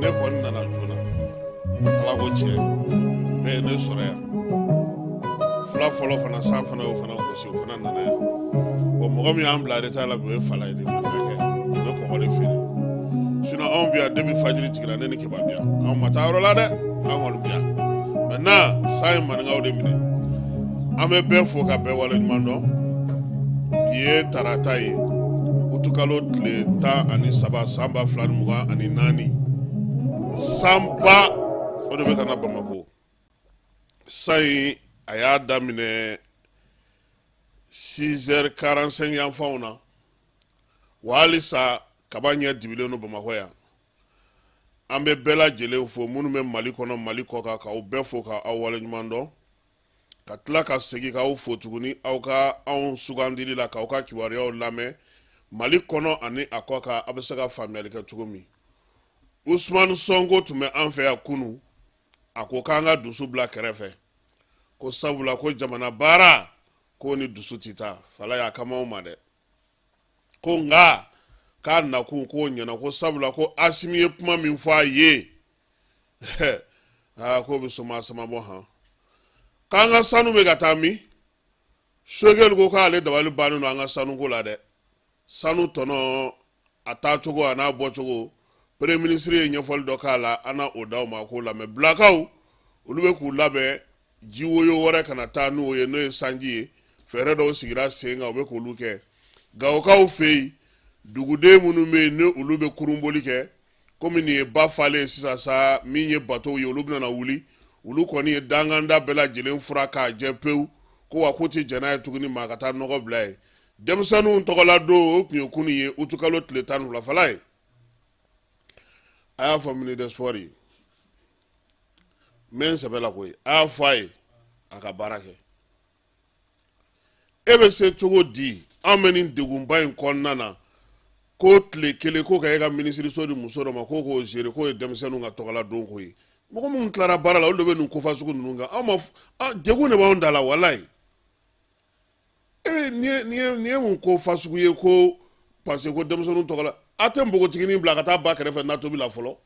ne kɔni nana joona ala ko tiɲɛ bɛɛ ye ne sɔrɔ yan fila fɔlɔ fana san fana y'o fana gosi o fana nana yan bɔn mɔgɔ min y'an bila retard la bi o ye fala ye de fana kɛ u bɛ kɔgɔ de feere sinɔn anw bi yan depi fajiri tigɛra ne ni keba bi yan anw ma taa yɔrɔ la dɛ anw kɔni bi yan mɛntenan san ye maninkaw de minɛ an bɛ bɛɛ fo ka bɛɛ wale ɲuman dɔn bi ye tarata ye utukalo tile tan ani saba san ba fila ni mugan ani naani sanba o de bɛ ka na bamakɔ san in a y'a daminɛ 6 heures 45 yanfanw na wa halisa kaba ɲɛ dibilen don bamakɔ yan an bɛ bɛɛ lajɛlen fo minnu bɛ mali kɔnɔ mali kɔkan k'aw bɛɛ fo ka aw wale ɲuman dɔn ka tila ka segin k'aw fo tuguni aw ka anw sugandili la k'aw ka kibaruyaw lamɛn mali kɔnɔ ani a kɔkan a bɛ se ka faamuyali kɛ cogo min usumani sɔnko tun bɛ an fɛ yan kunu a ko k'an ka dusu bila kɛrɛfɛ ko sabula ko jamana baara k'o ni dusu tɛ taa fala y'a kama anw ma dɛ ko nka k'a nakun k'o ɲɛna ko sabula ko asimi ye kuma min fɔ a ye aa k'o bɛ soma samabɔ han k'an ka sanu bɛ ka taa min sogɛli ko k'ale dabali bannen don an ka sanu ko la dɛ sanu tɔnɔ a taacogo an'a bɔcogo premier ministre ye ɲɛfɔli dɔ k'a la an na o d'aw ma k'o lamɛn bilakaw olu bɛ k'u labɛn jiwoyo wɛrɛ kana taa n'u ye n'o ye sanji ye fɛɛrɛ dɔw sigira sen kan u bɛ k'olu kɛ gawokaw fɛ yen duguden minnu bɛ yen ni olu bɛ kurunboli kɛ komi nin ye ba falen sisan sa min ye batow ye olu bɛna wuli olu kɔni ye danganda bɛɛ lajɛlen furan k'a jɛ pewu ko wa k'u tɛ jɛn n'a ye tuguni maa ka taa nɔgɔ bila yen denmisɛnninw tɔgɔladon o tun ye kunu ye utukalo tile tan ni fila fala ye a y'a fɔ ministre des sports ye n bɛ n sɛbɛ la koyi a y'a fɔ a ye a ka baara kɛ e bɛ se cogo di an bɛ nin degunba in kɔnɔna na ko tile kelen ko ka e ka minisiriso di muso dɔ ma ko k'o gérer k'o ye denmisɛnninw ka tɔgɔladon ko ye mɔgɔ minnu tilara baara la olu de bɛ nin ko fasugu ninnu kan anw ma degun de b'anw da la walayi ee nin ye mun ko fasugu ye ko parce que ko denmisɛnninw tɔgɔla a tɛ npogotiginin bila ka taa ba kɛrɛfɛ na tobi la fɔlɔ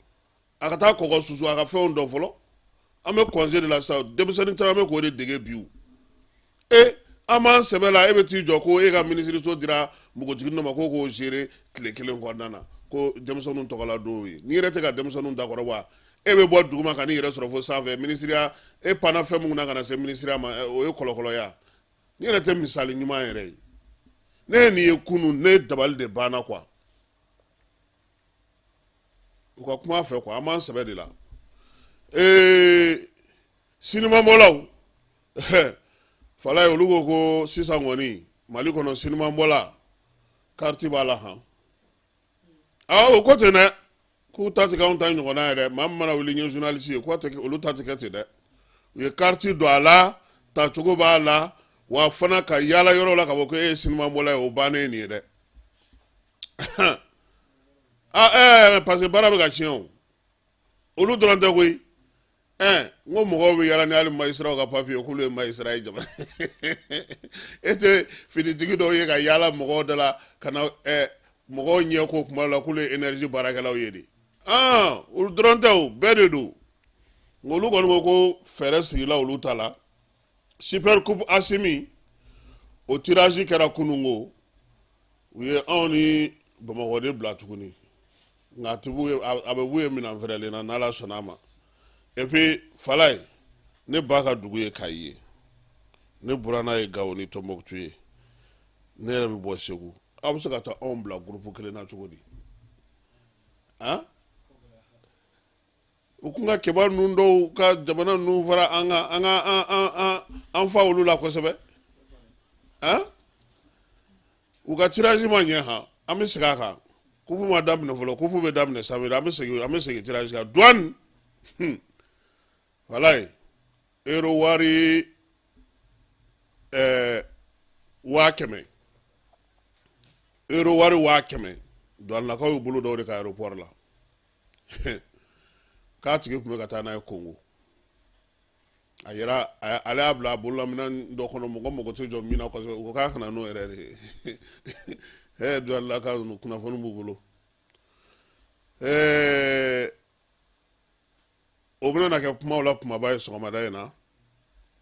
a ka taa kɔgɔ susu a ka fɛnw dɔn fɔlɔ an bɛ congé de la sa denmisɛnnin caman bɛ k'o de dege bi e an b'an sɛbɛ la e bɛ t'i jɔ ko e ka minisiriso dira npogotigi dɔ ma ko k'o gérer tile kelen kɔnɔna na ko denmisɛnninw tɔgɔladon ye n'i yɛrɛ tɛ ka denmisɛnninw dakɔrɔ wa e bɛ bɔ duguma ka n'i yɛrɛ sɔrɔ fo sanfɛ minisiriya e panna fɛn minnu na ka na se minisiriya ma o ye kɔlɔkɔlɔya n'i yɛrɛ tɛ misali ɲuman yɛrɛ ye ne ye nin ye kunun ne dabali de banna quoi u ka kuma fɛ quoi an b'an sɛbɛ de la ee sinimabɔlaw falayi olu ko ko sisan kɔni mali kɔnɔ sinimabɔla kariti b'a la han aa o ko ten dɛ k'u ta ti k'anw ta ɲɔgɔnna ye dɛ maa min mana wuli n ye journaliste ye k'o tɛ kɛ- olu ta ti kɛ ten dɛ u ye kariti don a la tacogo b'a la wa fana ka yaala yɔrɔ la k'a fɔ ko e ye sinimabɔla ye o bannen ye nin ye dɛ ah, eh, parce que baara bɛ ka tiɲɛ o olu dɔrɔn tɛ koyi ɛn n ko mɔgɔw bɛ yaala ni hali majisiraw ka papiye k'olu ye majisira ye jamana e tɛ finitigi dɔw ye ka yaala mɔgɔw da la ka na ɛɛ mɔgɔw ɲɛ ko kuma la k'olu ye énergie baarakɛlaw ye de ɔn olu dɔrɔn tɛ o bɛɛ de don nka olu kɔni ko ko fɛɛrɛ sigila olu ta la super coupe asimi o tirage kɛra kunungo u ye anw ni bamakɔ de bila tuguni nka a bɛ b'u ye minan fɛrɛlen na n'ala sɔnna a ma et puis falayi ne ba ka dugu ye kayi ye ne buranna ye gawo ni tɔnbɔkutu ye ne yɛrɛ bɛ bɔ segu aw bɛ se ka taa anw bila gurupu kelen na cogo di han u tun ka kiba ninnu dɔw ka jamana ninnu fara an ka an ka an fa olu la kosɛbɛ u ka tiraji ma ɲɛ han an bɛ segin a kan kupu ma daminɛ fɔlɔ kupu bɛ daminɛ sa an bɛ segin an bɛ segin tiraji kan duwani falayi ero wari ɛɛ waa kɛmɛ ero wari waa kɛmɛ duwanilakaw y'u bolo da o de kan aéroport la k'a tigi tun bɛ ka taa n'a ye kongo a yɛrɛ ale y'a bila a bololaminan dɔ kɔnɔ mɔgɔ mago tɛ jɔ min na kosɛbɛ u k'a kana n'o yɛrɛ de ye duwanilakaw kunnafoni b'u bolo o bɛna kɛ kumaw la kumaba ye sɔgɔmada in na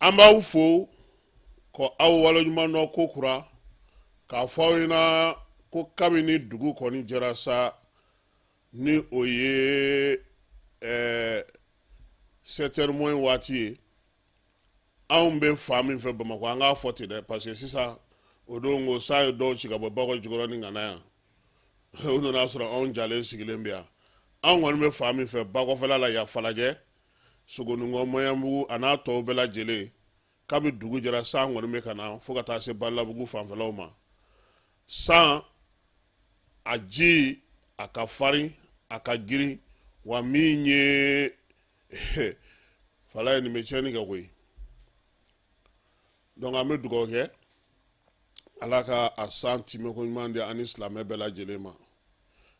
an b'aw fo ko aw waleɲuman dɔn ko kura k'a fɔ aw ɲɛna ko kabini dugu kɔni jɛra sa ni o ye ɛɛ eh, sept heures moins waati ye anw bɛ fan min fɛ bamakɔ an k'a fɔ ten dɛ parce que sisan o don ko san ye dɔw ci ka bɔ bakɔ jikɔrɔni ka na yan u nan'a sɔrɔ anw jalen sigilen bɛ yan anw kɔni bɛ fan min fɛ bakɔfɛla la yan falajɛ sogoninkɔ maɲanbugu a n'a tɔw bɛɛ lajɛlen kabi dugu jɛra san kɔni bɛ ka na fo ka taa se badalabugu fanfɛlaw ma san a ji a ka farin a ka girin wa min ye falayi nin bɛ tiɲɛni kɛ koyi donc an bɛ dugawu kɛ ala ka a san timɛko ɲuman di an ni silamɛ bɛɛ lajɛlen ma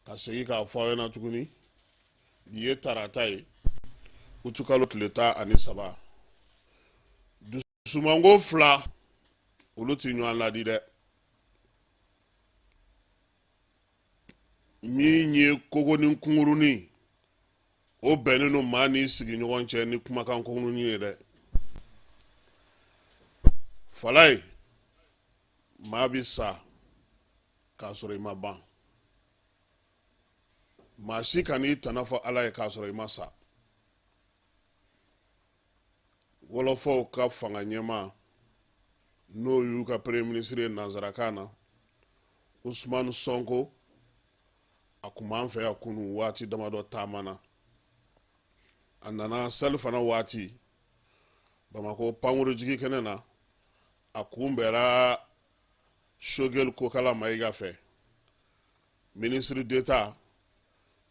ka segin k'a fɔ aw ɲɛna tuguni nin ye tarata ye utukalo tile tan ani saba dusumango fila olu tɛ ɲɔgɔn ladi dɛ min ye kogonin kunkurunin o bɛnnen don maa n'i sigiɲɔgɔn cɛ ni kumakan kunkurunin ye dɛ falayi maa bɛ sa k'a sɔrɔ i ma ban maa si kan'i tana fɔ ala ye k'a sɔrɔ i ma sa wɔlɔfɔw ka fanga ɲɛmaa n'o y'u ka premier ministre ye nansarakan na usumani sɔnko a kun b'an fɛ yan kunu waati damadɔ taama na a nana selifana waati bamakɔ pankuru jigi kɛnɛ na a kunbɛra sogɛli kokala mayiga fɛ minisiri deta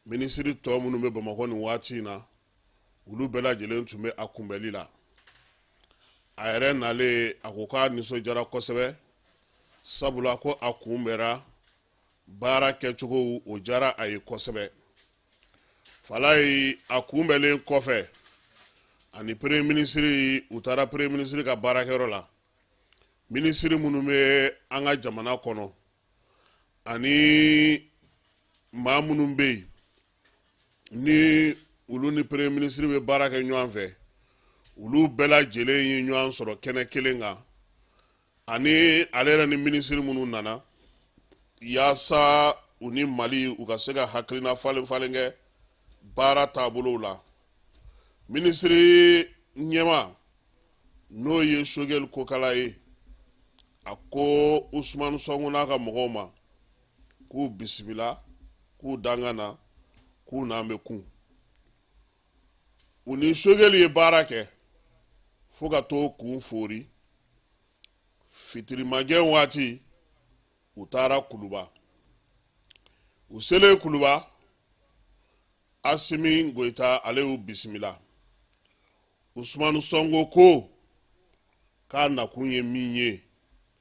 minisiri tɔ minnu bɛ bamakɔ nin waati in na olu bɛɛ lajɛlen tun bɛ a kunbɛli la a yɛrɛ nalen a ko k'a nisɔndiyara kosɛbɛ sabula ko a kunbɛra baara kɛcogow o diyara a ye kosɛbɛ falayi a kunbɛlen kɔfɛ a ni premier minisiri u taara premier minisiri ka baarakɛyɔrɔ la minisiri minnu bɛ an ka jamana kɔnɔ ani maa minnu bɛ yen ni olu ni premier minisiri bɛ baara kɛ ɲɔgɔn fɛ olu bɛɛ lajɛlen ye ɲɔgɔn sɔrɔ kɛnɛ kelen kan ani ale yɛrɛ ni minisiri minnu nana yaasa u ni mali u ka se ka hakilina falen falen kɛ baara taabolow la minisiri ɲɛmaa n'o ye sogɛli kokala ye a ko usumani sɔnko n'a ka mɔgɔw ma k'u bisimila k'u danga na k'u n'an bɛ kun u ni sogɛli ye baara kɛ fo ka t'o kun foori fitiri magɛn waati u taara kuluba u selen kuluba asimi goyita ale y'u bisimila usumani sɔnko ko k'a nakun ye min ye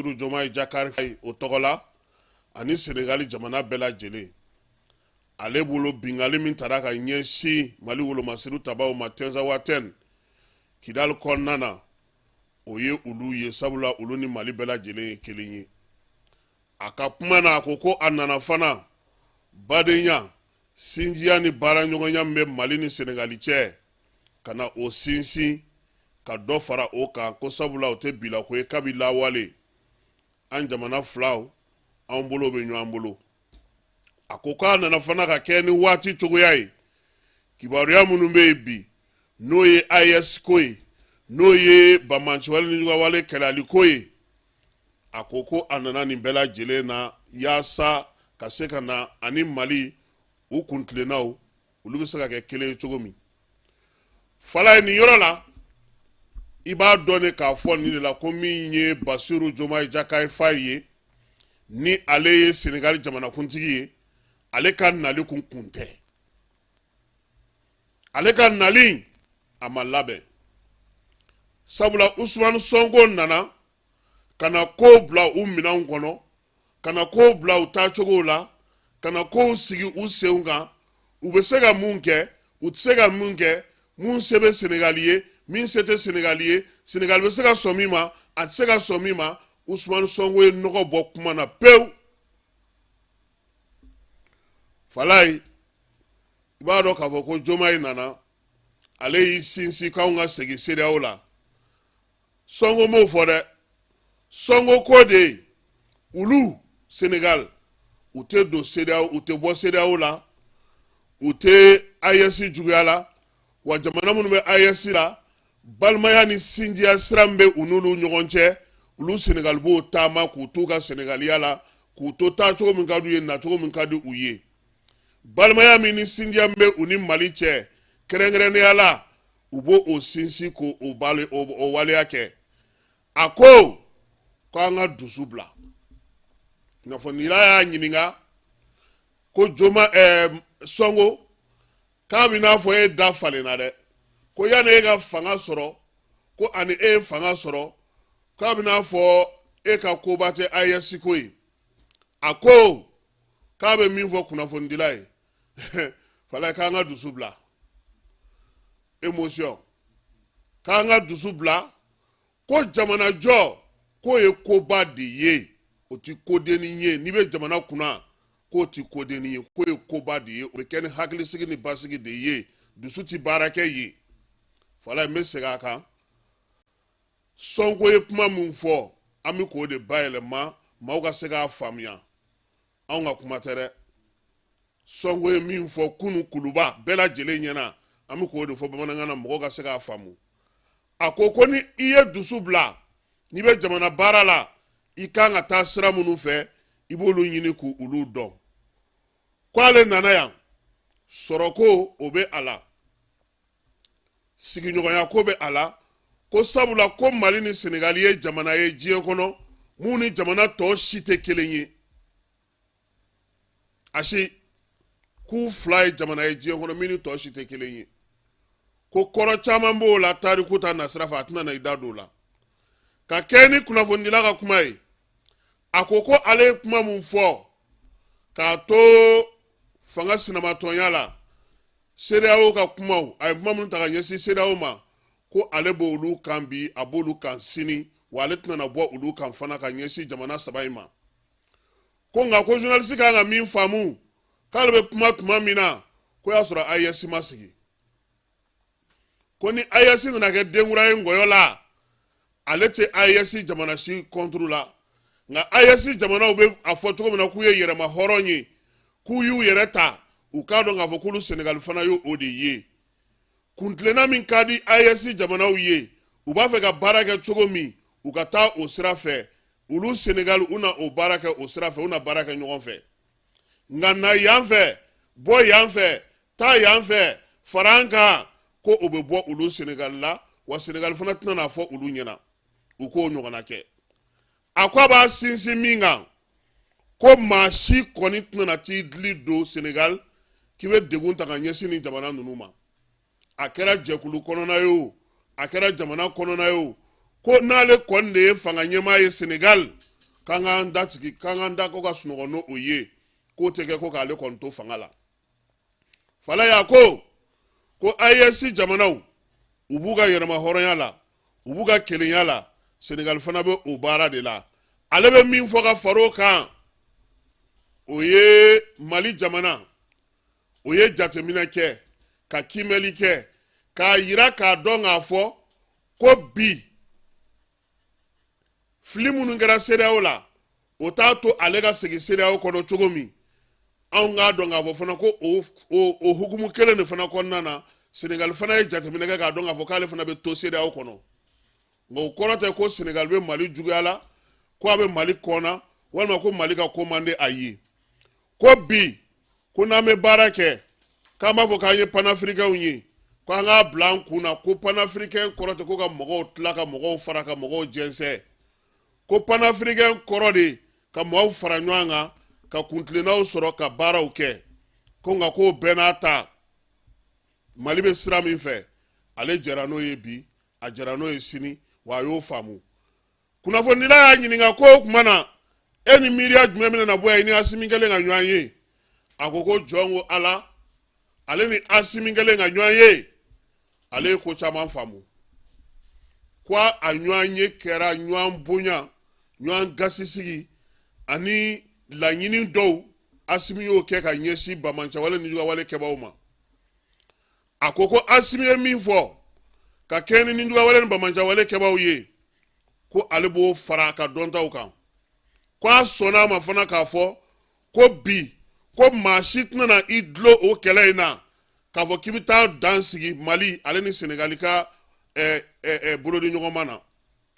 Bassirou Diomaye Diakhar Faye o tɔgɔ la ani Senegali jamana bɛɛ lajɛlen ale bolo binkanni min taara ka ɲɛsin Mali wolomasiri tabaw ma Tɛnzawatɛn Kidali kɔnɔna na o ye olu ye sabula olu ni Mali bɛɛ lajɛlen ye kelen ye a ka kuma na a ko ko a nana fana badenya sinjiya ni baaraɲɔgɔnya min bɛ Mali ni Senegali cɛ ka na o sinsin ka dɔ fara o kan ko sabula o tɛ bilako ye kabi lawale an jamana filaw an bolo bɛ ɲɔgɔn bolo a ko k'a nana fana ka kɛ ni waati cogoya ye kibaruya minnu bɛ yen bi n'o ye ayɛsi ko ye n'o ye banbaanciwale ni juguwale kɛlɛli ko ye a ko ko a nana nin bɛɛ lajɛlen na yaasa ka se ka na ani mali u kuntilennaw olu bɛ se ka kɛ kelen ye cogo min falayi nin yɔrɔ la i b'a dɔn ne k'a fɔ nin de la ko min ye basiru jomayi jakayi fayi ye ni ale ye senegali jamanakuntigi ye ale ka nali kun kun tɛ ale ka nali a ma labɛn sabula usumani sɔnko nana ka na kow bila u minɛnw kɔnɔ ka na kow bila u taacogow la ka na kow sigi u senw kan u bɛ se ka min kɛ u tɛ se ka min kɛ min se bɛ senegali ye min se tɛ senegali ye senegali bɛ se ka sɔn min ma a tɛ se ka sɔn min ma usumani sɔnko ye nɔgɔ bɔ kuma na pewu falayi i b'a dɔn k'a fɔ ko jomayi nana ale y'i sinsin k'anw ka segin sedeyawo la sɔnko m'o fɔ dɛ sɔnko ko de ye olu senegal u tɛ don sedeyawo u tɛ bɔ sedeyawo la u tɛ ayɛsi juguya la wa jamana minnu bɛ ayɛsi la balimaya ni sinjiya sira min bɛ u n'olu ɲɔgɔn cɛ olu senegal b'o taama k'u t'u ka senegaliya la k'u to taacogo min ka d'u ye nacogo min ka di u ye balimaya min ni sinjiya min bɛ u ni mali cɛ kɛrɛnkɛrɛnnenya la u b'o o sinsin k'o waleya kɛ a ko ko an ka dusu bila kunnafonidila y'a ɲininka ko joma ɛɛ eh, sɔnko k'a bɛ n'a fɔ e da falenna dɛ ko yanni e ka fanga sɔrɔ ko ani e ye fanga sɔrɔ k'a bɛ n'a fɔ e ka koba tɛ ayɛsiko ye a ko k'a bɛ min fɔ kunnafonidila ye falayi k'an ka dusu bila émotion k'an ka dusu bila ko jamanajɔ k'o ye koba de ye o ti kodennin ye n'i bɛ jamana kunna k'o ti kodennin ye k'o ye koba de ye o bɛ kɛ ni hakilisigi ni basigi de ye dusu ti baara kɛ yen falayi n bɛ segin a kan sɔnko ye kuma min fɔ an bɛ k'o de bayɛlɛma maaw ka se k'a faamuya anw ka kuma tɛ dɛ sɔnko ye min fɔ kunu kuluba bɛɛ lajɛlen ɲɛna an bɛ k'o de fɔ bamanankan na mɔgɔw ka se k'a faamu a ko ko ni i ye dusu bila n'i bɛ jamana baara la i kan ka taa sira minnu fɛ i b'olu ɲini k'olu dɔn k'ale nana yan sɔrɔko o bɛ a la sigiɲɔgɔnya ko bɛ a la ko sabula ko mali ni senegali ye jamana ye diɲɛ kɔnɔ minnu ni jamana tɔw si tɛ kelen ye asi k'u fila ye jamana ye diɲɛ kɔnɔ min ni tɔw si tɛ kelen ye ko kɔrɔ caman b'o la tariku ta nasira fɛ a tɛna na i da don o la ka kɛ ni kunnafonidila ka kuma ye a ko ko ale ye kuma min fɔ k'a to fanga sinamatɔnya la CEDEAO ka kumaw a ye kuma minnu ta ka ɲɛsin CEDEAO ma ko ale b'olu kan bi a b'olu kan sini wa ale tɛna na bɔ olu kan fana ka ɲɛsin jamana saba in ma ko nka ko journaliste kan ka min faamu k'ale bɛ kuma tuma min na ko y'a sɔrɔ AES ma sigi ko ni AES nana kɛ denkura ye ngɔyɔ la ale tɛ AES jamana si contre la nka AES jamanaw bɛ a fɔ cogo min na k'u ye yɛrɛma hɔrɔn ye k'u y'u yɛrɛ ta u k'a dɔn k'a fɔ k'olu Senegal fana ye o de ye kuntilenna min ka di AES jamanaw ye u b'a fɛ ka baara kɛ cogo min u ka taa o sira fɛ olu Senegal u na o baara kɛ o sira fɛ u na baara kɛ ɲɔgɔn fɛ nka na yan fɛ bɔ yan fɛ taa yan fɛ fara an kan ko o bɛ bɔ olu senegali la wa senegali fana tɛna n'a fɔ olu ɲɛ na u k'o ɲɔgɔnna kɛ a ko a b'a sinsin min kan ko maa si kɔni tɛna na t'i dili don senegali k'i bɛ degun ta ka ɲɛsin nin jamana ninnu ma a kɛra jɛkulu kɔnɔna ye o a kɛra jamana kɔnɔna ye o ko n'ale kɔni de ye fanga ɲɛmaa ye senegal k'an k'an da sigi k'an k'an da ko ka sunɔgɔ n'o ye k'o tɛ kɛ ko k'ale kɔni to fanga la fala y'a ko ko AES jamanaw u b'u ka yɛrɛma hɔrɔnya la u b'u ka kelenya la senegal fana bɛ o baara de la ale bɛ min fɔ ka far'o kan o ye mali jamana o ye jateminɛ kɛ ka kiimɛli kɛ k'a yira k'a dɔn k'a fɔ ko bi fili minnu kɛra CEDEAO la o t'a to ale ka segin CEDEAO kɔnɔ cogo min anw k'a dɔn k'a fɔ fana ko o hukumu kelen de fana kɔnɔna na senegali fana ye jateminɛ kɛ k'a dɔn k'a fɔ k'ale fana bɛ to CEDEAO kɔnɔ nka o kɔrɔ tɛ ko senegali bɛ mali juguya la ko a bɛ mali kɔnna walima ko mali ka ko man di a ye ko bi ko n'an bɛ baara kɛ k'an b'a fɔ k'an ye panafirikɛnw ye ko an k'a bila an kun na ko panafirikɛn kɔrɔ tɛ ko ka mɔgɔw tila ka mɔgɔw fara ka mɔgɔw jɛnsɛn ko panafirikɛn kɔrɔ de ka mɔgɔw fara ɲɔgɔn kan ka kuntilennaw sɔrɔ ka baaraw kɛ ko nka k'o bɛɛ n'a ta mali bɛ sira min fɛ ale jɛra n'o ye bi a jɛra n'o ye sini wa a y'o faamu kunnafonidila y'a ɲininka ko o tuma na e ni miiriya jumɛn bɛna na bɔ yan i ni asimi kɛlen ka ɲɔgɔn ye a ko ko jɔn ko ala ale ni asimi kɛlen ka ɲɔgɔn ye ale ye ko caman faamu ko wa ɲɔgɔnye kɛra ɲɔgɔn bonya ɲɔgɔn gasisigi ani laɲini dɔw asimi y'o kɛ ka ɲɛsin banbaanciya wale nijuguya wale kɛbaaw ma a ko ko asimi ye min fɔ ka kɛɲɛ ni nijuguya wale ni banbaanciya wale kɛbaaw ye ko ale b'o fara a ka dɔntaw kan ko a sɔnna a ma fana k'a fɔ ko bi ko maa si tɛna na i dulon o kɛlɛ in na k'a fɔ k'i bɛ taa dan sigi mali ale ni senegali ka eh, eh, eh, bolodiɲɔgɔnma na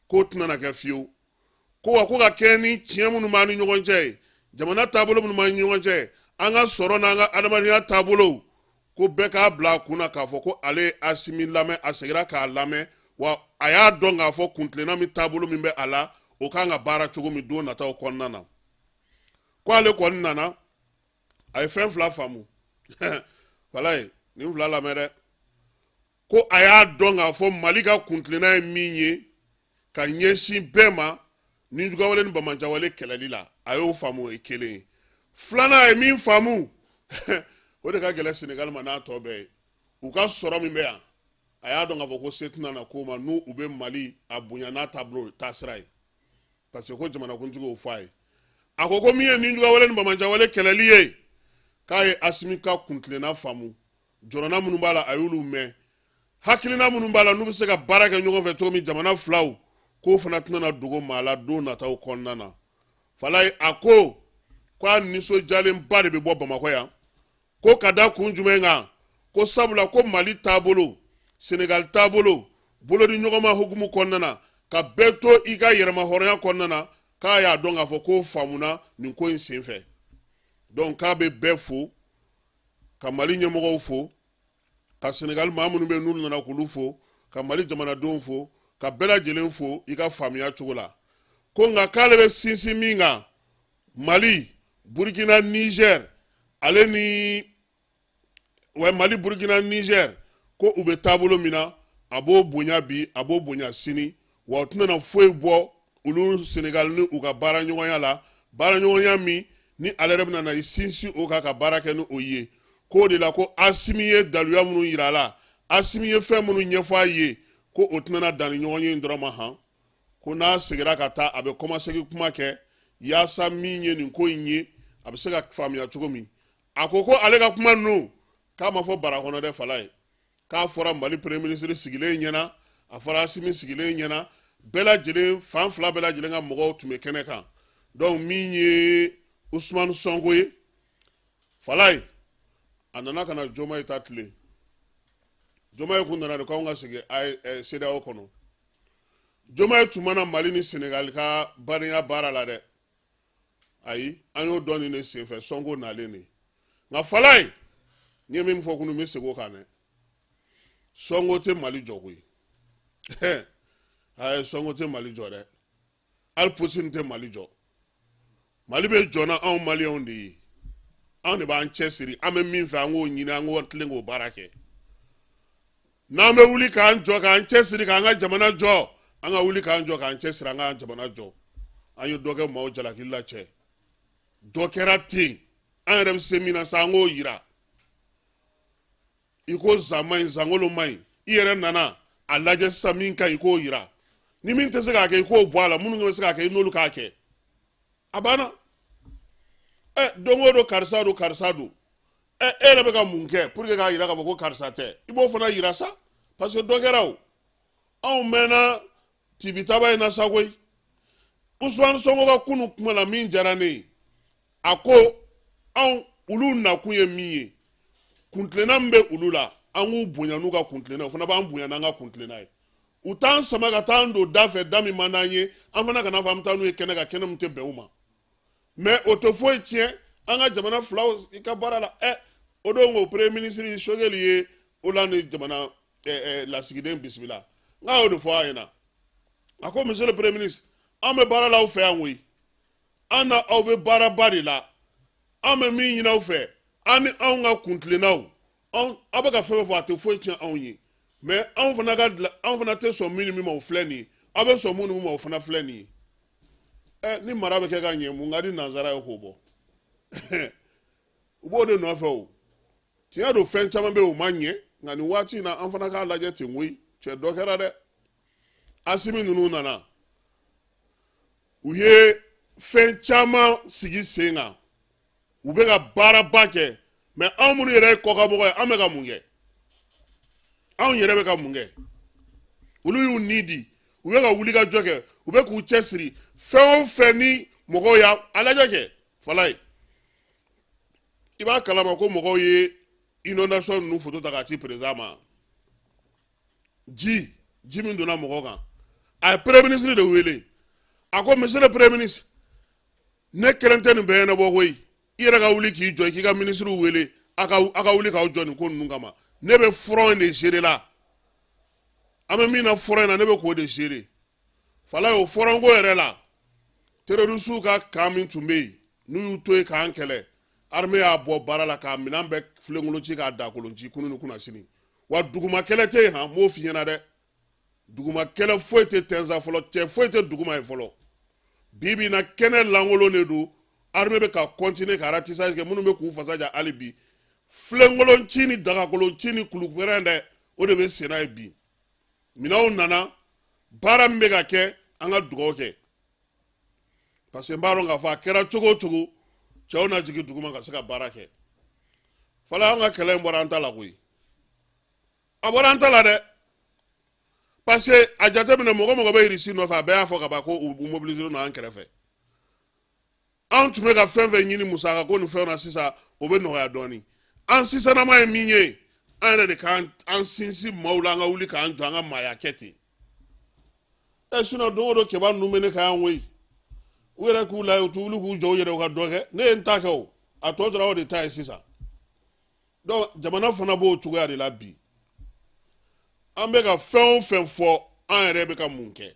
k'o tɛna na kɛ fiyewu ko wa ko ka kɛɲɛ ni tiɲɛ minnu b'an ni ɲɔgɔn cɛ ye jamana taabolo minnu b'an ni ɲɔgɔn cɛ an ka sɔrɔ n'an ka adamadenya taabolow ko bɛɛ k'a bila a kun na k'a fɔ ko ale ye asimi lamɛn a segira k'a lamɛn wa a y'a dɔn k'a fɔ kuntilenna min taabolo min bɛ a la o ka kan ka baara cogo min don nataw kɔnɔna na ko ale kɔni nana a ye fɛn fila faamu wala a ye nin fila lamɛn dɛ ko a y'a dɔn k'a fɔ mali ka kuntilenna ye min ye ka ɲɛsin bɛɛ ma nijuguya wale ni banbaanciya wale kɛlɛli la a y'o faamu o ye kelen ye filanan a ye min faamu o de ka gɛlɛn senegali ma n'a tɔ bɛɛ ye u ka sɔrɔ min bɛ yan a y'a dɔn k'a fɔ ko se tɛna na k'o ma n'u u bɛ mali a bonya n'a taabolo taasira ye parce que ko jamanakuntigi y'o fɔ a ye a ko ko min ye nijuguya wale ni banbaanciya wale kɛlɛli ye k'a ye asimi ka kuntilenna faamu jɔrɔna minnu b'a la a y'olu mɛn hakilina minnu b'a la n'u bɛ se ka baara kɛ ɲɔgɔn fɛ cogo min jamana filaw k'o fana tɛna dogo maa la don nataw kɔnɔna na falayi a ko k'a nisɔndiyalenba de bɛ bɔ bamakɔ yan ko ka da kun jumɛn kan ko sabula ko mali taabolo senegali taabolo bolodi ɲɔgɔnma hukumu kɔnɔna na ka bɛɛ to i ka yɛrɛmahɔrɔnya kɔnɔna na k'a y'a dɔn k'a fɔ k'o faamuna nin ko in senfɛ donc k'a bɛ bɛɛ fo ka mali ɲɛmɔgɔw fo ka senegali maa minnu bɛ n'u nana k'olu fo ka mali jamanadenw fo ka bɛɛ lajɛlen fo i ka faamuya cogo la ko nka k'ale bɛ sinsin min kan mali burkina niger ale ni mali burkina niger ko u bɛ taabolo min na a b'o bonya bi a b'o bonya sini wa o tɛna na foyi bɔ olu senegali ni u ka baara ɲɔgɔnya la baara ɲɔgɔnya min ni ale yɛrɛ bɛna na i sinsin o kan ka baara kɛ ni o ye k'o de la ko asimi ye daluya minnu yira a la asimi ye fɛn minnu ɲɛfɔ a ye ko o tɛna na dan nin ɲɔgɔnye in dɔrɔn ma han ko n'a segira ka taa a bɛ kɔmasegin kuma kɛ yaasa min ye nin ko in ye a bɛ se ka faamuya cogo min a ko ko ale ka kuma ninnu k'a ma fɔ bara kɔnɔ dɛ falayi k'a fɔra mali premier ministre sigilen ɲɛna a fɔra asimi sigilen ɲɛna bɛɛ lajɛlen fan fila bɛɛ lajɛlen ka mɔgɔw tun bɛ kɛnɛ kan donc min ye usumani sɔnko ye falaye a nana ka na jomaye ta tilen jomaye kun nana de ko anw ka segin sedao eh, kɔnɔ jomaye tun ma na mali ni senegali ka badenya baara la dɛ ayi an y'o dɔn nin de senfɛ sɔnko nalen de nka falaye n ye min fɔ kunu n bɛ segin o kan dɛ sɔnko tɛ mali jɔ koyi ayi sɔnko tɛ mali jɔ dɛ hali putin tɛ mali jɔ mali bɛ jɔ n'anw maliyɛnw de ye anw de b'an cɛsiri an bɛ min fɛ an k'o ɲini an k'o tilen k'o baara kɛ n'an bɛ wuli k'an jɔ k'an cɛ siri k'an ka jamana jɔ an ka wuli k'an jɔ k'an cɛ siri an ka jamana jɔ an ye dɔ kɛ maaw jalaki la cɛ dɔ kɛra ten an yɛrɛ bɛ se min na sa an k'o yira i ko zan man ɲi zankolo man ɲi i yɛrɛ nana a lajɛ sisan min ka ɲi i k'o yira ni min tɛ se k'a kɛ i k'o bɔ a la minnu bɛ se k'a kɛ i n'olu k'a kɛ a banna ɛ don o don karisa don karisa don ɛ e yɛrɛ bɛ ka mun kɛ pour que k'a yira k'a fɔ ko karisa tɛ i b'o fana yira sa parce que dɔ kɛra o anw mɛnna tibitaba in na sa koyi usumani sɔnko ka kunu kuma la min diyara ne ye a ko anw olu nakun ye min ye kuntilenna min bɛ olu la an k'u bonya n'u ka kuntilenna o fana b'an bonya n'an ka kuntilenna ye u t'an sama ka taa an don da fɛ da min man d'an ye an fana kan'a fɔ an bɛ taa n'u ye kɛnɛ kan kɛnɛ min tɛ bɛn u ma mais o tɛ foyi tiɲɛ an ka jamana filaw i ka baara la ɛ o don ko premier ministre sogɛli ye olandi jamana lasigiden bisimila nk'a y'o de fɔ a ɲɛna a ko monsieur le premier ministre an bɛ baara la aw fɛ yan koyi an n'aw bɛ baaraba de la an bɛ min ɲini aw fɛ an ni anw ka kuntilennaw anw aw bɛ ka fɛn o fɛn fɔ a tɛ foyi tiɲɛ anw ye mais anw fana ka anw fana tɛ sɔn min ni min ma o filɛ nin ye aw bɛ sɔn min ni min ma o fana filɛ nin ye ɛ ni mara bɛ kɛ ka ɲɛ mun ka di nanzara ye k'o bɔ u b'o de nɔfɛ o tiɲɛ don fɛn caman bɛ yen o ma ɲɛ nka nin waati in na an fana k'a lajɛ ten koyi cɛ dɔ kɛra dɛ asimi ninnu nana u ye fɛn caman sigi sen kan u bɛ ka baaraba kɛ mais anw minnu yɛrɛ ye kɔkanmɔgɔ ye an bɛ ka mun kɛ anw yɛrɛ bɛ ka mun kɛ olu y'u ni di u bɛ ka wulikajɔ kɛ u bɛ k'u cɛsiri fɛn o fɛn ni mɔgɔw y'a a lajɛ kɛ falaye i b'a kalama ko mɔgɔw ye inondation ninnu foto ta k'a ci président ma ji ji min donna mɔgɔ kan a ye premier ministre de wele a ko monsieur le premier ministre ne kelen tɛ nin bɛɛ ɲɛnabɔ koyi i yɛrɛ ka wuli k'i jɔ k'i ka ministre wele a ka a ka wuli k'aw jɔ nin ko ninnu kama ne bɛ front in de gérer la an bɛ min na front in na ne bɛ k'o de gérer falaye o front ko yɛrɛ la terorisiw ka kan min tun bɛ yen n'u y'u to yen k'an kɛlɛ armée y'a bɔ baara la k'a minɛn bɛɛ filenkolonci k'a dakolonci kunu ni kunasini wa duguma kɛlɛ tɛ yen han n b'o f'i ɲɛna dɛ duguma kɛlɛ foyi tɛ tɛnza fɔlɔ cɛ foyi tɛ duguma yen fɔlɔ bi bi in na kɛnɛ lankolon de don armée bɛ ka continuer ka ratissage kɛ minnu bɛ k'u fasa ja hali bi filenkolonci ni dagakolonci ni kulupɛrɛn dɛ o de bɛ senna yen bi minɛnw nana baara min bɛ ka kɛ an ka dugawu kɛ parce que n b'a dɔn k'a fɔ a kɛra cogo o cogo cɛw na jigin duguma ka se ka baara kɛ fɔlɔ an ka kɛlɛ in bɔra an ta la koyi a bɔra an ta la dɛ parce que a jateminɛ mɔgɔ mɔgɔ bɛ irisi nɔfɛ a bɛɛ y'a fɔ ka ban ko u mobiliselen don an kɛrɛfɛ anw tun bɛ ka fɛn fɛn ɲini musaka ko ni fɛnw na sisan o bɛ nɔgɔya dɔɔni an sisanama ye min ye an yɛrɛ de k'an an sinsin maaw la an ka wuli k'an jɔ an ka maaya kɛ ten ɛ sinon don o don kɛba ninnu bɛ ne kan yan koyi u yɛrɛ k'u la u t'u wuli k'u jɔ u yɛrɛ u ka dɔ kɛ ne ye n ta kɛ o a tɔ tora o de ta ye sisan donc jamana fana b'o cogoya de la bi an bɛ ka fɛn o fɛn fɔ an yɛrɛ bɛ ka mun kɛ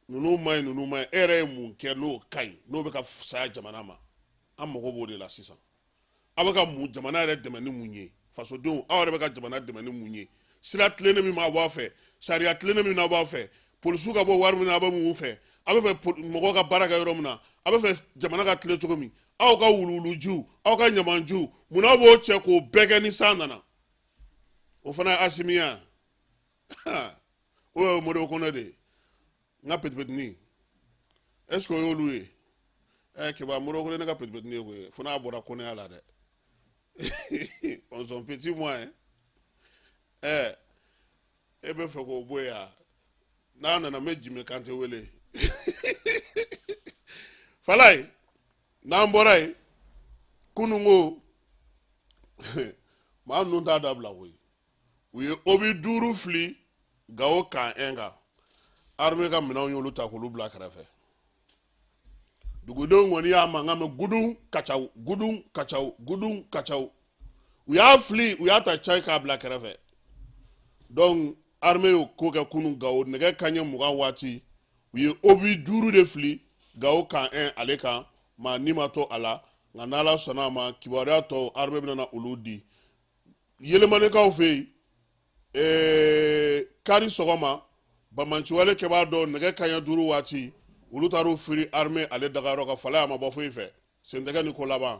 ninnu ma ɲi ninnu ma ɲi e yɛrɛ ye mun kɛ n'o ka ɲi n'o bɛ ka fisaya jamana ma an mago b'o de la sisan aw bɛ ka mun jamana yɛrɛ dɛmɛ ni mun ye fasodenw aw yɛrɛ bɛ ka jamana dɛmɛ ni mun ye sira tilennen min aw b'a fɛ sariya tilennen min aw b'a fɛ polisiw ka bɔ wari min na aw bɛ mun fɛ aw bɛ fɛ mɔgɔw ka baara kɛ yɔrɔ min na aw bɛ fɛ jamana ka tilen cogo min aw ka wuluwulujiw aw ka ɲamanjiw mun aw b'o cɛ k'o bɛɛ kɛ ni san nana o fana ye asimi ye wa o ye modibo kɔnɛ de ye n ka petipetini est ce que o y'olu ye ɛ keba modibo kɔnɛ ne ka petipetini ye koyi fo n'a bɔra kɔnɛya la dɛ on son petit moyen ɛ e bɛ fɛ k'o bɔ yan n'a nana n bɛ jimi kante wele falaye n'an bɔra yen kununko maa ninnu t'a dabila koyi u ye obi duuru fili gawo kan en kan arme ka minɛnw y'olu ta k'olu bila kɛrɛfɛ dugudenw kɔni y'a mankan mɛn gudun kacaw gudun kacaw gudun kacaw u y'a fili u y'a ta cayi k'a bila kɛrɛfɛ donc arme y'o ko kɛ kunu gawo nɛgɛ kanɲɛ mugan waati u ye obi duuru de fili gawo kan en ale kan maa ni ma to a la nka n'ala sɔnna a ma kibaruya tɔw arme bɛna olu di yelemanikaw fɛ yen ee, kari sɔgɔma banbaanciwale kɛbaa dɔ nɛgɛ kanɲɛ duuru waati olu taar'u firi arme ale dagayɔrɔ kan falayi a ma bɔ foyi fɛ sentɛgɛ ni ko laban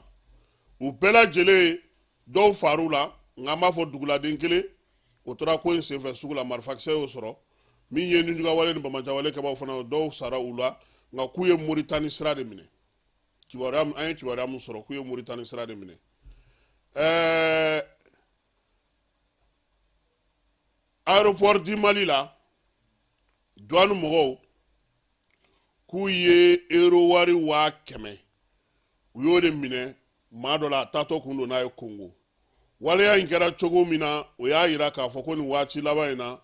u bɛɛ lajɛlen dɔw far'u la nka an b'a fɔ duguladen kelen o tora ko in senfɛ sugu la marifakisɛ y'o sɔrɔ min ye ninjugawale ni banbaanciwale kɛbaaw fana dɔw sara u la nka k'u ye moritani sira de minɛ an ye kibaruya min sɔrɔ k'u ye moritani sira de minɛ ɛɛ aéroport du mali la duwani mɔgɔw k'u ye euro wari waa kɛmɛ u y'o de minɛ maa dɔ la a taatɔ kun don n'a ye kongo waleya in kɛra cogo min na o y'a yira k'a fɔ ko nin waati laban in na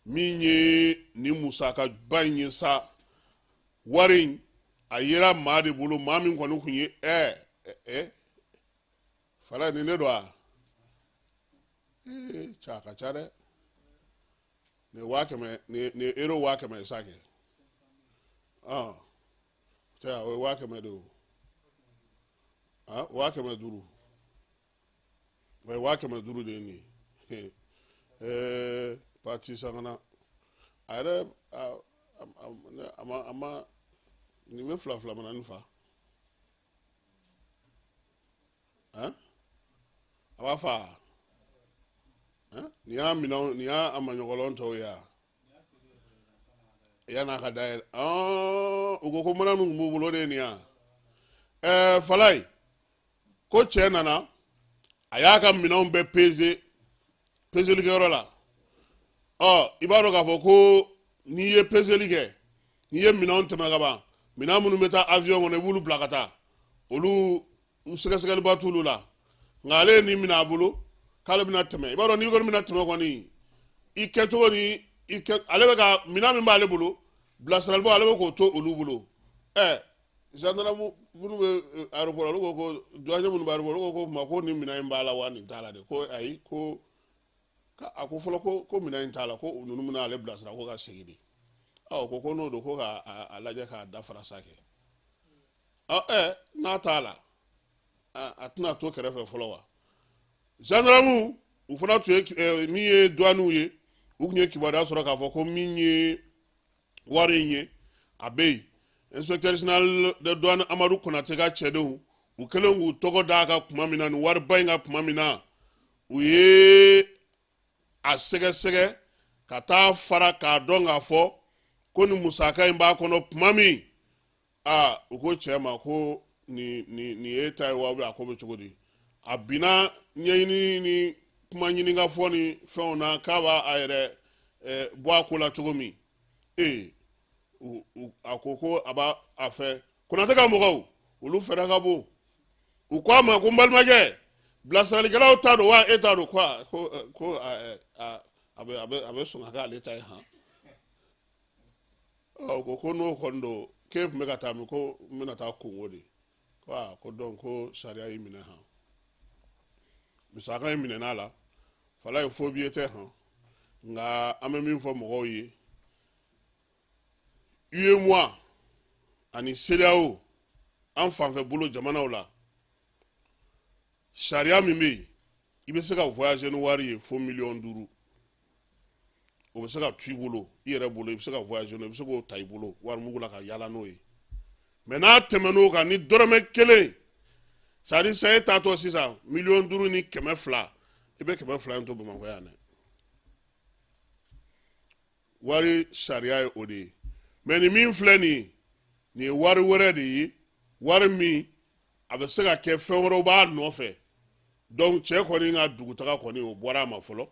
min ye nin musakaba in ye sa wari in a yera maa de bolo maa min kɔni tun ye ɛɛ ɛɛ falayi nin de don a ee ca ka ca dɛ ne waa kɛmɛ ne ne euro waa kɛmɛ sa kɛ ɔn tɛ a o ye waa kɛmɛ de o a waa kɛmɛ duuru wa waa kɛmɛ duuru de ye nin ye ɛɛ patisakana a yɛrɛ a a ma a ma nin bɛ fila fila mana nin fa ɛn a b'a fa ɛn nin y'a minɛn nin y'a a maɲɔgɔlɔn tɔw ye a yan'a ka dayɛlɛ ɔn u ko ko mana min tun b'u bolo de ye nin ye a ɛɛ falayi. ko cɛ nana a y'a ka minɛnw bɛɛ peze pezeli kɛyɔrɔ la ɔ i b'a dɔn k'a fɔ ko n'i ye pezeli kɛ n'i ye minɛnw tɛmɛ ka ban minɛn minnu bɛ taa avion kɔnɔ i b'olu bila ka taa olu sɛgɛsɛgɛliba t'olu la nka ale ye nin minɛ a bolo k'ale bɛna tɛmɛ i b'a dɔn n'i kɔni bɛna tɛmɛ kɔni i kɛcogo ni i kɛ ale ka minɛn min b'ale bolo bilasiralibaaw ale bɛ k'o to olu bolo ɛ zandaramu minnu bɛ aéroport olu ko ko duwaɲɛ minnu bɛ aéroport olu ko ko ma ko nin minɛn in b'a la wa nin t'a la de ko ayi ko a ko fɔlɔ ko ko minɛn in t'a la ko ninnu bɛna ale bilasira ko ka segin de ɔ ko ko n'o don ko ka a lajɛ k'a dafara sa kɛ ɔ ɛ n'a t'a la a tɛna to kɛrɛfɛ fɔlɔ wa zandaramu u fana tun ye min ye duwaniw ye u tun ye kibaruya sɔrɔ k'a fɔ ko min ye wari in ye a bɛ yen inspecteur général de douane amadu konate ka cɛdenw u kɛlen k'u tɛgɛ d'a kan kuma min na nin wariba in kan kuma min na u ye a sɛgɛsɛgɛ k'a dafara k'a dɔn k'a fɔ ko nin musaka in b'a kɔnɔ tuma min aa u ko cɛ ma ko nin nin nin ye e ta ye wa a ko bɛ cogo di a binna ɲɛɲini ni kuma ɲininka fɔ ni fɛnw na k'a b'a a yɛrɛ eh, bɔ a ko la cogo min ee a ko ko a b'a a fɛ konatɛ ka mɔgɔw olu fɛɛrɛ ka bon u ko a ma ko n balimakɛ bilasiralikɛlaw ta don wa e ta don ko ko a bɛ a bɛ sɔn ka kɛ ale ta ye han ɔ ko ko n'o kɔni don k'e tun bɛ ka taa min ko n bɛna taa kongo de ko aa ko dɔnku sariya y'i minɛ han musaka in minɛna a la falaye faux billet tɛ han nka an bɛ min fɔ mɔgɔw ye UEMOA ani CEDEAO an fanfɛ bolo jamanaw la sariya min bɛ yen i bɛ se ka voyager ni wari ye fo miliyɔn duuru o bɛ se ka to i bolo i yɛrɛ bolo i bɛ se ka voyager n'o ye i bɛ se k'o ta i bolo warimugu la ka yaala n'o ye mais n'a tɛmɛn'o kan ni dɔrɔmɛ kelen c'est à dire sisan e taatɔ sisan miliyɔn duuru ni kɛmɛ fila i bɛ kɛmɛ fila in to bamakɔ yan dɛ wari sariya ye o de ye mais nin min filɛ nin ye nin ye wari wɛrɛ de ye wari min a bɛ se ka kɛ fɛn wɛrɛw b'a nɔfɛ dɔnku cɛ kɔni ka dugutaga kɔni o bɔra a ma fɔlɔ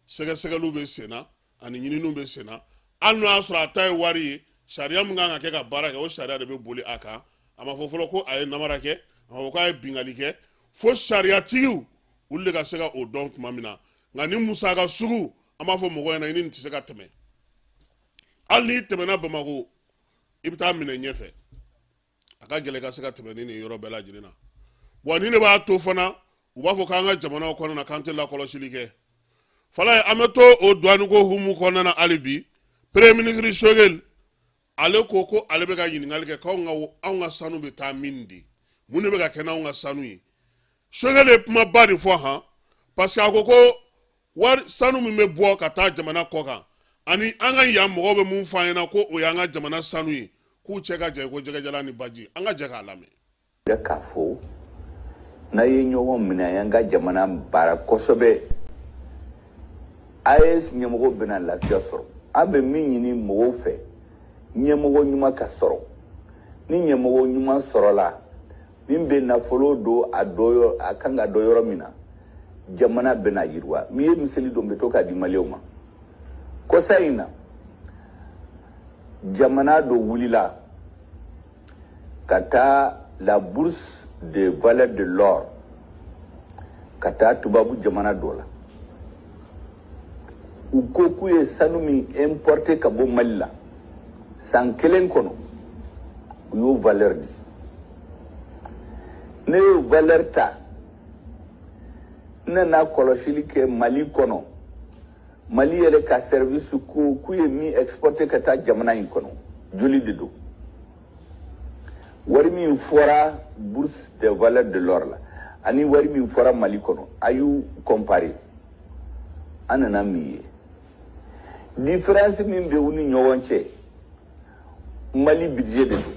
sɛgɛsɛgɛliw bɛ senna ani ɲininiw bɛ senna hali n'o y'a sɔrɔ a ta ye wari ye sariya min kan ka kɛ ka baara kɛ o sariya de bɛ boli a kan a ma fɔ fɔlɔ ko a ye namara kɛ a ma fɔ k'a ye bingali kɛ fo sariyatigiw olu de ka se ka o dɔn tuma min na nka nin musaka sugu an b'a fɔ mɔgɔ ɲɛna i ni nin tɛ se ka tɛmɛ hali n'i tɛmɛna bamako i bɛ taa minɛ ɲɛfɛ a ka gɛlɛn ka se ka tɛmɛ ni nin yɔrɔ bɛɛ lajɛlen na wa ni ne b'a to fana u b'a fɔ k'an ka jamanaw kɔnɔna na k'an tɛ lakɔlɔsili kɛ falaye an bɛ to o duwaniko hukumu kɔnɔna na hali bi premier ministre choguel ale ko ko ale bɛ ka ɲininkali kɛ k'anw ka anw ka sanu bɛ taa min de mun de bɛ ka kɛ n'anw ka sanu ye choguel ye kumaba de fɔ han parce que a ko ko wari sanu min bɛ bɔ ka taa jamana kɔ kan ani an ka yan mɔgɔw bɛ mun fɔ an ɲɛna ko o y'an ka jamana sanu ye k'u cɛ ka jan ko jɛgɛjalan ni baji an ka jɛ k'a lamɛn k'a fɔ n'an ye ɲɔgɔn minɛ an y'an ka jamana baara kosɛbɛ as ɲɛmɔgɔ bɛna lafiya sɔrɔ an bɛ min ɲini mɔgɔw fɛ ɲɛmɔgɔ ɲuman ka sɔrɔ ni ɲɛmɔgɔ ɲuman sɔrɔla min bɛ nafolo don a dɔ a kan ka don yɔrɔ min na jamana bɛna yiriwa min ye misali dɔ bɛ to k'a di maliyɛnw ma kɔsa in na jamana dɔ wulila ka taa la bourse de valeur de l'or ka taa tubabu jamana dɔ la u ko k'u ye sanu min importe ka bɔ mali la san kelen kɔnɔ u y'o valeur di ne y'o valeur ta n nana kɔlɔsili kɛ mali kɔnɔ mali yɛrɛ ka service ko k'u ye min exporte ka taa jamana in kɔnɔ joli de don wari min fɔra bourse de valeur de l'or la ani wari min fɔra mali kɔnɔ a y'u comparer an nana min ye différence min bɛ u ni ɲɔgɔn cɛ mali budget de don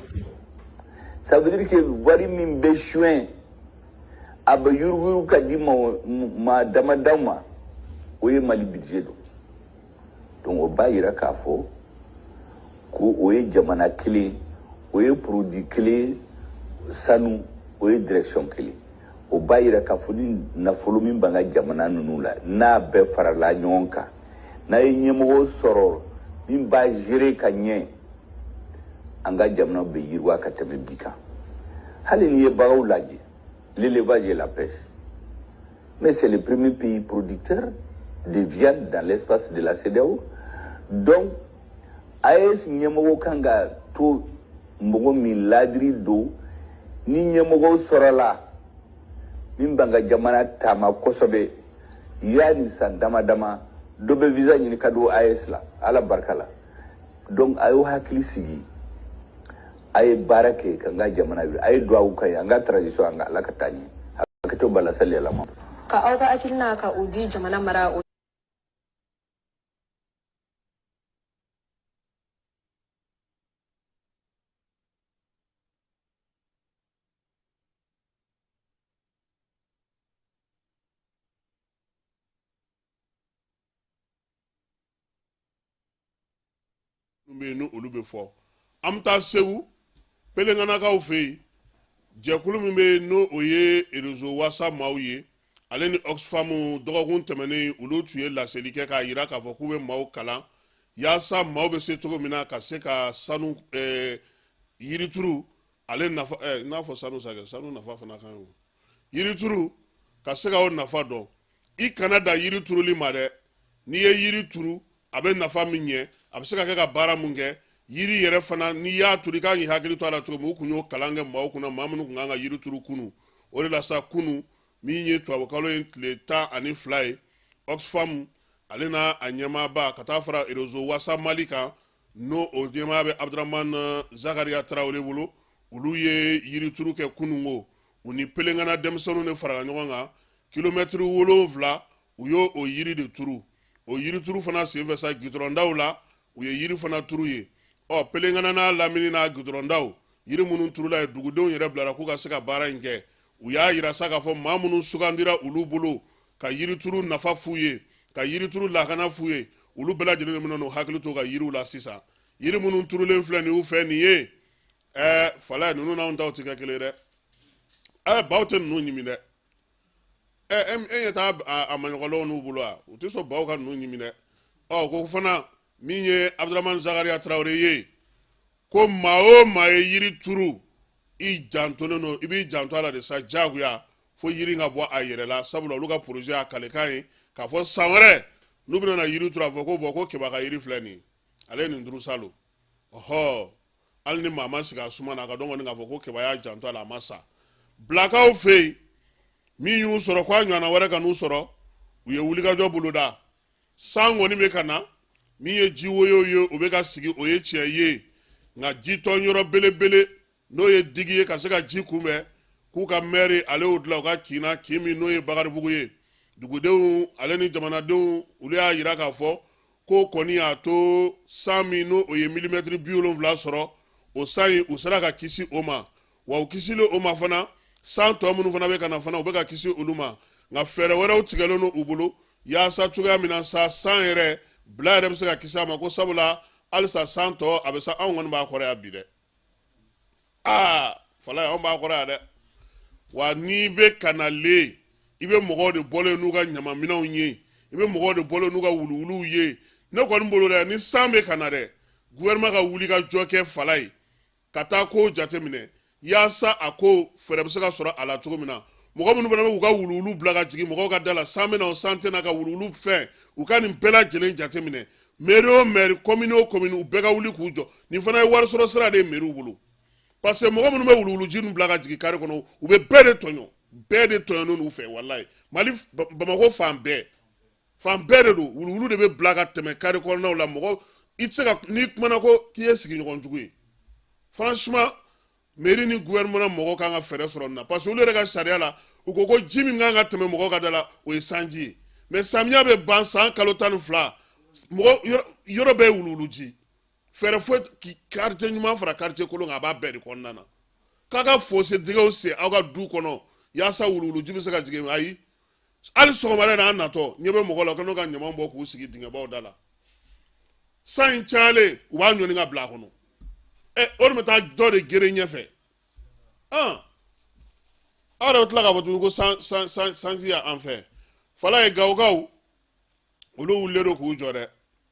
ça veut dire que wari min bɛ suɲɛ a bɛ yuruguyurugu ka di maa damadaw ma o ye mali budget don donc o b'a yira k'a fɔ ko o ye jamana kelen o ye produit kelen sanu o ye direction kelen o b'a yira k'a fɔ ni nafolo min b'an ka jamana ninnu la n'a bɛɛ farala ɲɔgɔn kan n'a ye ɲɛmɔgɔ sɔrɔ min b'a gérer ka ɲɛ an ka jamana bɛ yiriwa ka tɛmɛ bi kan hali n'i ye baganw lajɛ l'élevage et la pêche Mais c'est le premier pays producteur de viande dans l'espace de la CEDEAO. Donc, AES ɲɛmɔgɔ kan ka to mɔgɔ min ladiri don ni ɲɛmɔgɔ sɔrɔla min b'an ka jamana taama kosɛbɛ yanni san dama dama dɔ bɛ visa ɲini ka don AES la ala barika la donc a y'aw hakili sigi a ye baara kɛ k'an ka jamana wuli a ye duwawu k'an ye an ka transition an ka ala ka taa ɲɛ hakɛto b'a la sali yɛlɛma ka aw ka hakilina ka u di jamana mara o minnu bɛ yen ni olu bɛ fɔ an bɛ taa segu pelenganakaw fɛ yen jɛkulu min bɛ yen n'o o ye réseau wasa maaw ye ale ni oxfam dɔgɔkun tɛmɛnen olu tun ye laseli kɛ k'a jira k'a fɔ k'u bɛ maaw kalan yaasa maaw bɛ se cogo min na ka se ka sanu ɛɛ eh, yirituru ale nafa ɛɛ eh, n'a fɔ sanu sa kɛ sanu nafa fana kan ye o yirituru ka se ka o nafa dɔn i kana dan yiri turuli ma dɛ n'i ye yiri turu a bɛ nafa min ɲɛ a bɛ se ka kɛ ka baara mun kɛ yiri yɛrɛ fana n'i y'a turu i kan k'i hakili to a la cogo min u kun y'o kalan kɛ maaw kunna maa minnu kun kan ka yiri turu kunu o de la sa kunu min ye tubabukalo ye tile tan ani fila ye oxfam ale n'a a ɲɛmaaba ka taa fara réseau wasa mali kan n'o o ɲɛmaaya bɛ abudurahman eh, zakariya tarawele bolo olu ye yirituru kɛ kunungo u ni pelengana denmisɛnninw de farala ɲɔgɔn kan kilomɛtiri wolonfila u y'o o yiri de turu o yirituru fana senfɛ sa gidɔrɔndaw la u ye yiri fana turu yen ɔ pelengana n'a lamini n'a gidɔrɔndaw yiri minnu turula yen dugudenw yɛrɛ bilara k'u ka se ka baara in kɛ u y'a yira sa k'a fɔ maa minnu sugandira olu bolo ka yirituru nafa f'u ye ka yirituru lakana f'u ye olu bɛɛ lajɛlen de bɛn'u hakili to ka yiriw la sisan yiri minnu turulen filɛ nin u fɛ nin ye ɛɛ fala ninnu n'anw taw tɛ kɛ kelen ye dɛ ɛɛ baw tɛ ninnu ɲimi dɛ ɛɛ e ɲɛ taa a maɲɔgɔnlɔw n'u bolo wa u tɛ sɔn baw ka ninnu ɲimi dɛ ɔ ko fana min ye abudurahman zakariya tarawele ye ko maa o maa ye yiri turu i jantolen don i b'i janto a la de sa diyagoya fo yiri ka bɔ a yɛrɛ la sabula olu ka projet y'a kalikan ye k'a fɔ san wɛrɛ n'u bɛna na yiri turu a fɔ ko bɔn ko keba ka yiri filɛ nin ale ye nin turu salon ɔhɔ hali ni maa ma sigi a suma na a ka dɔn kɔni k'a fɔ ko keba y'a janto a la a ma sa bilakaw fɛ yen min y'u sɔrɔ ko a ɲɔgɔnna wɛrɛ kan'u sɔrɔ u ye wulikajɔ boloda san kɔni bɛ ka na min ye ji woyo ye o bɛ ka sigi o ye tiɲɛ ye nka jitɔn yɔrɔ belebele n'o ye digi ye ka se ka ji kunbɛn k'u ka mɛri ale y'o dilan u ka kin na kin min n'o ye bakaribugu ye dugudenw ale ni jamanadenw olu y'a jira k'a fɔ ko kɔni y'a to san min n'o o ye milimɛtiri bi wolonfila sɔrɔ o san in u sera ka kisi o ma wa u kisilen o ma fana san tɔ minnu fana bɛ ka na fana u bɛ ka kisi olu ma nka fɛɛrɛ wɛrɛw tigɛlen don u bolo yaasa cogoya min na sa san yɛrɛ bila yɛrɛ bɛ se ka kisi a ma ko sabula halisa san tɔ a bɛ sa anw kɔni b'a kɔrɔ yan bi dɛ aa falayi anw b'a kɔrɔ yan dɛ wa n'i bɛ ka na le i bɛ mɔgɔw de bɔlen n'u ka ɲamaminɛnw ye i bɛ mɔgɔw de bɔlen n'u ka wuluwuluw ye ne kɔni bolo dɛ ni san bɛ ka na dɛ gouvernement ka wuli ka jɔ kɛ falayi ka taa kow jateminɛ yaasa a ko fɛɛrɛ bɛ se ka sɔrɔ a la cogo min na mɔgɔ minnu fana bɛ k'u ka wuluwulu bila ka jigin mɔgɔw ka da la san bɛ na o san tɛ na ka wuluwulu fɛn u ka nin bɛɛ lajɛlen jateminɛ mɛri o mɛri kɔmini o kɔmini u bɛɛ ka wuli k'u jɔ nin fana ye wari sɔrɔ sira de ye mɛriw bolo parce que mɔgɔ minnu bɛ wuluwuluji ninnu bila ka jigin kari kɔnɔ u bɛ bɛɛ de tɔɲɔ bɛɛ de tɔɲɔnen don u fɛ walayi mali bamakɔ fan bɛɛ fan bɛɛ de don wuluwulu de bɛ bila ka tɛmɛ kari kɔnɔnaw la mɔgɔ i tɛ se ka n'i kumana ko k'i ye sigiɲɔgɔn jugu ye franchement mɛri ni gouvernement mɔgɔ kan ka fɛɛrɛ sɔrɔ nin na parce que olu yɛrɛ ka sariya la u ko ko ji min kan ka tɛmɛ mɔgɔw ka da la o ye sanji ye mais samiya bɛ ban san kalo tan ni fila mɔgɔ yɔrɔ bɛɛ ye wuluwuluji fɛɛrɛ foyi quartier ɲuman fara quartier kolon kan a b'a bɛɛ de kɔnɔna na k'a ka fosse dingɛw sen aw ka du kɔnɔ yaasa wuluwuluji bɛ se ka jigin ayi hali sɔgɔmada in na an natɔ ɲɛ bɛ mɔgɔ la ka n'o ka ɲaman bɔ k'u sigi dingɛbaw da la san in cayalen u b'a ɲɔni ka bila a kɔnɔ ɛ o de bɛ taa dɔ de geren ɲɛfɛ an aw yɛrɛ bɛ tila k'a fɔ tuguni ko san san san sanji y'an fɛ fala ye gawokaw olu wulilen don k'u jɔ dɛ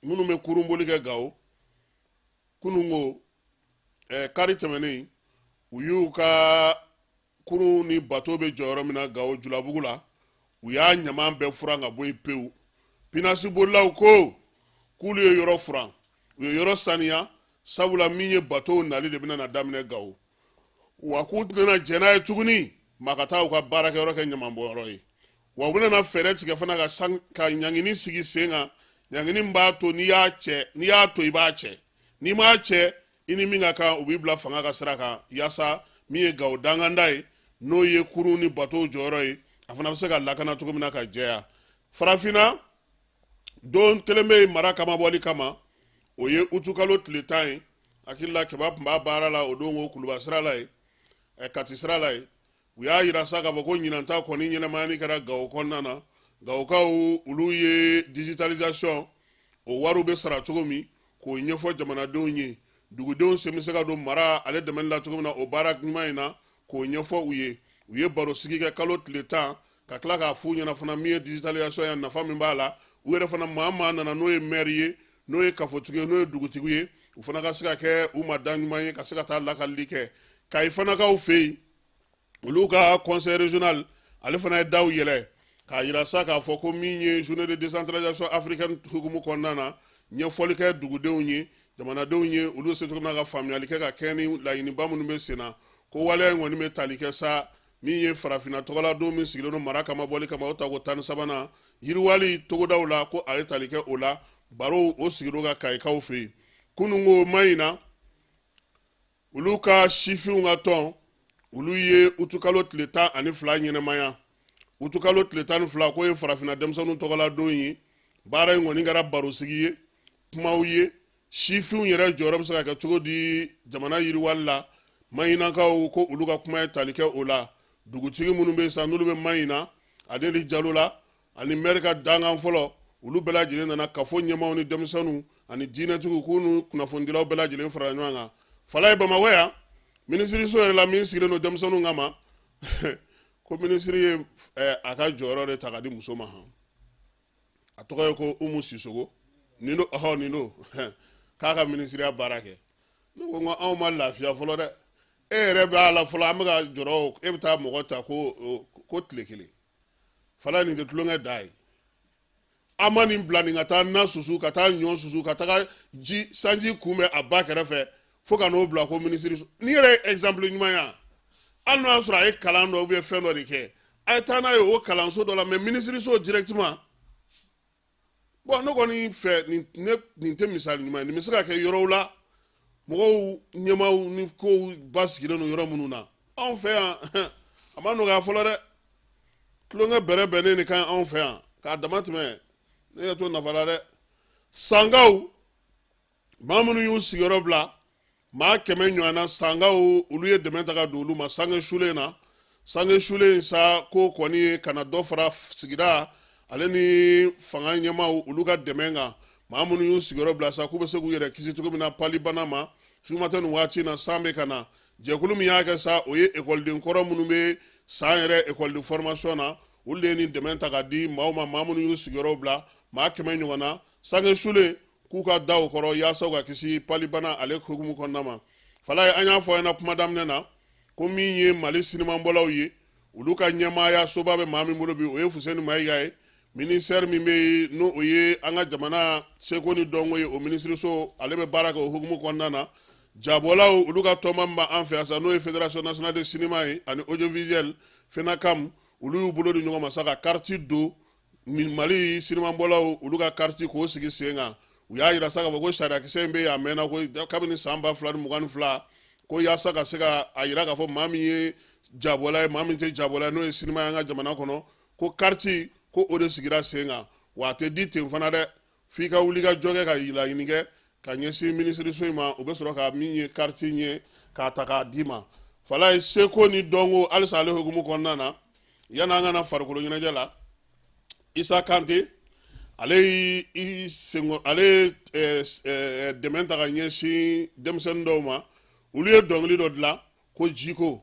minnu bɛ kurunboli kɛ gawo kununko ɛɛ kari tɛmɛnen u y'u ka kurun ni bato bɛ jɔ yɔrɔ min na gawo julabugu la u y'a ɲaman bɛɛ furan ka bɔ yen pewu pinasibolilaw ko k'olu ye yɔrɔ furan u ye yɔrɔ saniya sabula min ye batow nali de bɛna na daminɛ gawo wa k'u tɛna jɛn n'a ye tuguni maa ka taa u ka baarakɛyɔrɔ kɛ ɲamanbɔnyɔrɔ ye wa u bɛna fɛɛrɛ tigɛ fana ka san ka ɲangini sigi sen kan ɲangini b'a to n'i y'a cɛ n'i y'a to i b'a cɛ n'i m'a cɛ i ni min ka kan u b'i bila fanga ka sira kan yaasa min ye gawo danganda ye n'o ye kurun ni batow jɔyɔrɔ ye a fana bɛ se ka lakana cogo min na ka jɛya farafinna don kelen bɛ yen mara cɛmabɔli kama o ye utukalo tile tan ye hakili la kɛba tun b'a baara la o don ko kuluba sira la ye kati sira la ye u y'a yira sa k'a fɔ ko ɲinanta kɔni ɲɛnamayani kɛra gawo kɔnɔna na gawokaw olu ye digitalisation o wariw bɛ sara cogo min k'o ɲɛfɔ jamanadenw ye dugudenw sen bɛ se ka don mara ale dɛmɛli la cogo min na o baara ɲuman in na k'o ɲɛfɔ u ye u ye barosigi kɛ kalo tile tan ka tila k'a f'u ɲɛna fana min ye digitalisation ya nafa min b'a la u yɛrɛ fana maa maa nana n'o ye maire ye n'o ye kafotigi ye n'o ye dugutigi ye u fana ka se ka kɛ u ma da ɲuman ye ka se ka taa lakalili kɛ kayi fanakaw fɛ yen olu ka conseil régional ale fana ye daw yɛlɛ k'a yira sa k'a fɔ ko min ye journée de décentralisation africaine hukumu kɔnɔna na ɲɛfɔli kɛ dugudenw ye jamanadenw ye olu se cogo min na ka faamuyali kɛ ka kɛɲɛ ni laɲiniba minnu bɛ sen na ko waleya in kɔni bɛ tali kɛ sa min ye farafinna tɔgɔla don min sigilen don mara cɛmabɔli kama o tako tan ni sabanan yiriwali togodaw la ko a ye tali kɛ o la barow o sigilen ka kayikaw fɛ yen kununko mayina olu ka sifinw ka tɔn olu ye utukalo tile tan ani fila ɲɛnamaya utukalo tile tan ni fila k'o ye farafinna denmisɛnninw tɔgɔla don ye baara in kɔni kɛra barosigi ye kumaw ye sifinw yɛrɛ jɔyɔrɔ bɛ se ka kɛ cogo di jamana yiriwali la mayinakaw ko olu ka kuma ye tali kɛ o la dugutigi minnu bɛ yen sa n'olu bɛ mayina adeli jalo la ani mɛri ka dankan fɔlɔ olu bɛɛ lajɛlen nana kafo ɲɛmaaw ni denmisɛnninw ani diinɛtigiw k'u ni kunnafonidilaw bɛɛ lajɛlen farala ɲɔgɔn kan fala ye bamakɔ yan minisiriso yɛrɛ la min sigilen don denmisɛnninw kama ko minisiri ye eh, a ka jɔyɔrɔ de ta ka di muso ma han a tɔgɔ ye ko umu sisogo nin do ɔhɔ nin do k'a ka minisiriya baara kɛ ne ko n ko anw ma lafiya fɔlɔ dɛ e yɛrɛ b'a la fɔlɔ an bɛ ka jɔrɔ e bɛ taa mɔgɔ ta ko ko tile kelen fala nin tɛ tulonkɛ da ye an ma nin bila nin ka taa na susu ka taa ɲɔ susu ka taga ji sanji kunbɛn a ba kɛrɛfɛ fo ka n'o bila ko minisiriso nin yɛrɛ ye exemple ɲuman ye hali n'o y'a sɔrɔ a ye kalan dɔ ou bien fɛn dɔ de kɛ a ye taa n'a ye o kalanso dɔ la mais minisiriso directement bɔn ne kɔni fɛ nin tɛ misali ɲuman ye nin bɛ se ka kɛ yɔrɔw la mɔgɔw ɲɛmaw ni kow basigilen don yɔrɔ minnu na anw fɛ yan a ma nɔgɔya fɔlɔ dɛ tulonkɛ bɛrɛbɛrɛ de ka ca anw fɛ yan k'a dama tɛmɛ ne yɛ to nafa la dɛ sankaw maa minnu y'u sigiyɔrɔ bila maa kɛmɛ ɲɔgɔn na sankaw olu ye dɛmɛ ta ka don olu ma sange sulen na sange sulen in sa ko kɔni ye ka na dɔ fara sigida ale ni fanga ɲɛmaw olu ka dɛmɛ kan maa minnu y'u sigiyɔrɔ bila sa k'u bɛ se k'u yɛrɛ kisi cogo min na palibana ma sumatɛ nin waati na san bɛ ka na jɛkulu min y'a kɛ sa o ye ekɔliden kɔrɔ minnu bɛ san yɛrɛ ekɔliden fɔrɔmasiyɔn na olu de ye nin dɛmɛ ta ka di maaw ma maa minnu y'u sigiyɔrɔw bila maa kɛmɛ ɲɔgɔn na sange sulen k'u ka da o kɔrɔ yaasa u ka kisi palibana ale hukumu kɔnɔna ma fala ye an y'a fɔ ɲɛna kuma daminɛ na ko min ye mali sinimabɔlaw ye olu ka ɲɛmaaya soba bɛ maa min bolo bi o ye fuseni mayiga ye ministère min bɛ yen n'o ye an ka jamana seko ni dɔnko ye o minisiriso ale bɛ baara kɛ o hukumu kɔnɔna na jabɔlaw olu ka tɔnba min b'an fɛ yan sa n'o ye federation nationale de sinima ye ani audiovisuel fenacam olu y'u bolo di ɲɔgɔn ma sa ka kariti don mali sinimabɔlaw olu ka kariti k'o sigi sen kan u y'a jira sa k'a fɔ ko sariyakisɛ in bɛ yen a mɛnna ko kabini san ba fila ni mugan ni fila ko yaasa ka se ka a jira k'a fɔ maa min ye jabɔla ye maa min tɛ jabɔla ye n'o ye sinima y'an ka jamana kɔnɔ ko kariti ko o de sigira sen kan wa a tɛ di ten fana dɛ f'i ka wuli ka jɔ kɛ ka laɲini kɛ ka ɲɛsin minisiriso in ma u bɛ sɔrɔ ka min ye kariti ye k'a ta k'a d'i ma fala ye seko ni dɔnko halisa ale hukumu kɔnɔna na yanni an ka na farikolo ɲɛnajɛ la isa kante ale y'i senkɔ ale ye dɛmɛ ta ka ɲɛsin denmisɛnnin dɔw ma olu ye dɔnkili dɔ dilan ko jiko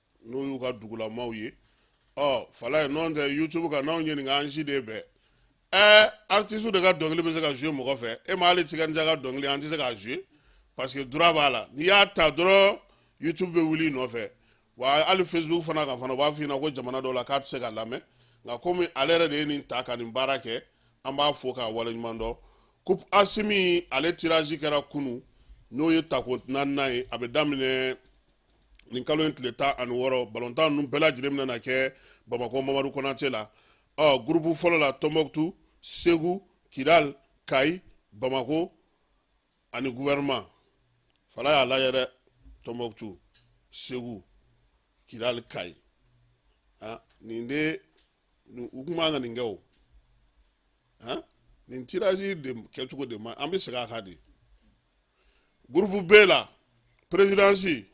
n'o y'u ka dugulamaw ye ɔ fala ye nɔn tɛ youtube kan n'anw ɲininka an si de bɛɛ ɛɛ artiste de ka dɔnkili bɛ se ka jouer mɔgɔ fɛ e ma hali tiken jah ka dɔnkili an tɛ se k'a jouer parce que droit b'a la n'i y'a ta dɔrɔn youtube bɛ wuli i nɔfɛ wa hali facebook fana kan fana u b'a f'i ɲɛna ko jamana dɔw la k'a tɛ se ka lamɛn nka komi ale yɛrɛ de ye nin ta ka nin baara kɛ an b'a fo k'a waleɲuman dɔn coupe asimi ale tirage kɛra kunu n'o ye tako naaninan ye a bɛ daminɛ nin kalo in tile tan ani wɔɔrɔ balontan ninnu bɛɛ lajɛlen bɛna kɛ bamakɔ mamadu konate la ɔ gurupu fɔlɔ la tɔnbɔkutu segu kidal kayi bamako ani guvɛrɛnman fala y'a lajɛ dɛ tɔnbɔkutu segu kidal kayi nin de u kun man ka nin kɛ o nin tirage de kɛcogo de ma an bɛ segin a kan de gurupu b la perezidansi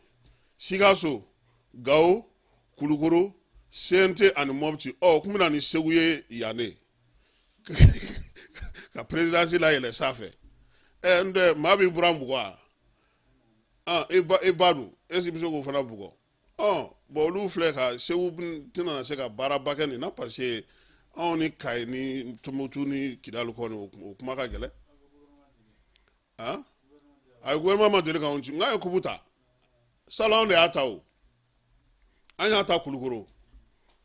sikaso gawo kulukoro cnt ani mɔpiti ɔ o tun bɛna ni segu ye yan de ka perezidansi layɛlɛ sanfɛ ɛ n tɛ maa b'i buran bugɔ wa i ba dun e si bɛ se k'o fana bugɔ ɔ bɔn olu filɛ ka segu tɛna na se ka baaraba kɛ nin na parce que anw ni kayi ni tombouctou ni kidali kɔni o kuma ka gɛlɛn ayi gouvernement ma deli k'anw ci nka an ye kupu ta salon anw de y'a ta o an y'a ta kulukoro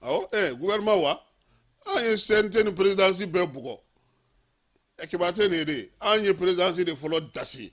awɔ ɛ gouvernement wa an ye cnt ni présidence bɛɛ bugɔ ekipuba tɛ nin ye de an ye présidence de fɔlɔ dasi